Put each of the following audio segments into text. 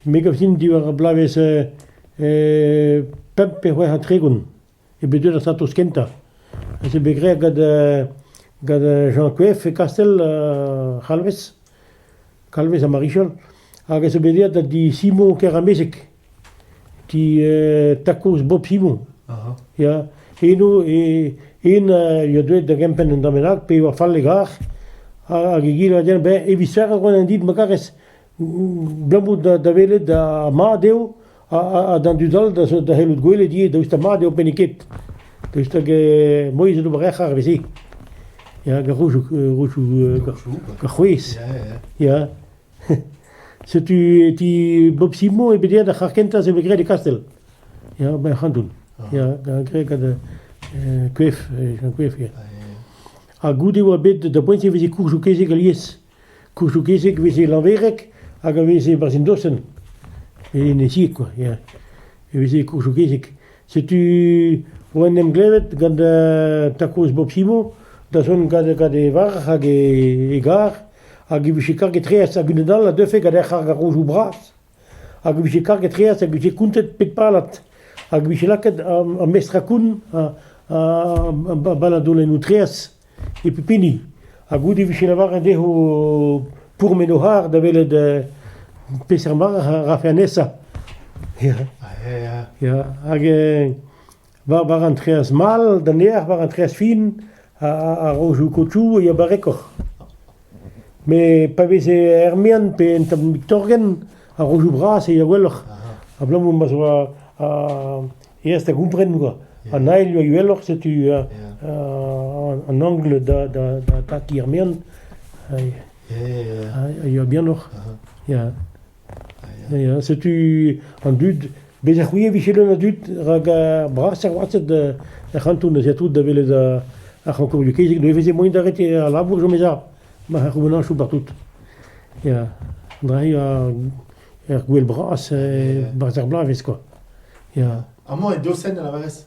Me gav din diwar ar bloavezh pemp pe c'hwec'h ha tregont eo bet deuet ar satos kentañ. Ez eo bet graet gant gant Jean Coef e Kastell C'halvez, Kalvez ha Marichal, hag ez eo bet aet da di Simon Keramezeg. ti takoz Bob Simon. Aha. Ya, eno e hen eo deuet da gempenn un dra bennak, pe ur fallegar, hag egile a den, ben, evit serr ar gwenan dit, ma karez, blamout da, da welet da mad eo, ha, d'an dud all da, da c'hellout gwelet ivez, daoust ha mad eo penniket. Daoust hag eh, moiz e d'ober ec'h ar veze. Ya, gant roujoù, roujoù, gant c'hwez. Ya, ya. Setu e ti Bob Simon e Bediad ar c'harr kentañ se 'vo graet e Kastell, ya, ba ar c'hanton, ya, graet gant koef, gant koef ya. Ha goude e oa bet da boent e veze koursoù kezeg alies, koursoù kezeg 'veze Lanvereg hag a veze barzhin dosenn, en e sied kwa, ya, e veze koursoù kezeg. Setu oa en em glevet gant ta kozh Bob Simon da zont gant e varc'h hag e garr. Hag e vije karget-tre hag unan all a deufe gant hec'h ar garojoù bras. Hag e vije karget-tre hag e vije kountet pep pallad. Hag e vije lakaet an mestrañ-koun a balladolennoù-treaz e pep hini. Ha goude e vije lavaret dezho pourmen o c'harr da welet peseurt mare a rafe anezhañ. Ya, hag war war an treaz mall d'an erc'h war an treaz fin a-raozoù kotoù e ya barrekoc'h. Met pa veze er-mean pe en tamm torgenn, a-raozoù bras e ya gwelloc'h. Abalamour ma 'z oa aes da gompren kwa. An ail yoa uheloc'h, setu an angle da da da taki er-mean a yoa bihanoc'h. Ya. Ya, setu an dud. Bezañ c'hwi a vije leun a dud, rak ar brasañ gwasted er c'hanton ez eo tout da welet ar c'hankourioù-kezeg. Neuze veze moaien d'arrêt al labour, jomezañ, ma c'houbanañchoù partout. Ya, dre ur gwel bras, barzh ar bloavezh kwa. Ya. Amañ e Dosenn, a lavarez ?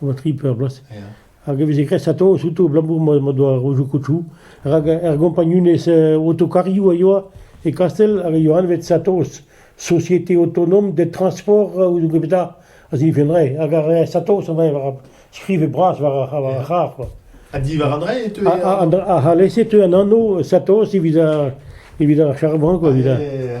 a oa tri peur bloaz. Ya. Hag e veze graet a-toz outo abalamour ma ma doa rojoù kotoù. Rak er gompagnunezh eh, autokarioù a yoa e Kastell hag a yoa anvet a-toz société autonome des transports euh, ou zo gepeta a zifenre. Hag ar eh, a-toz an war ar skrive bras war ar war ar c'harr. quoi. Ha diwar an drae e teu. Ha- ha- an- ha- ha alese teu an anv Satos evit ar evit ar charban quoi. evit ar- Ah, Ya, ya, ya.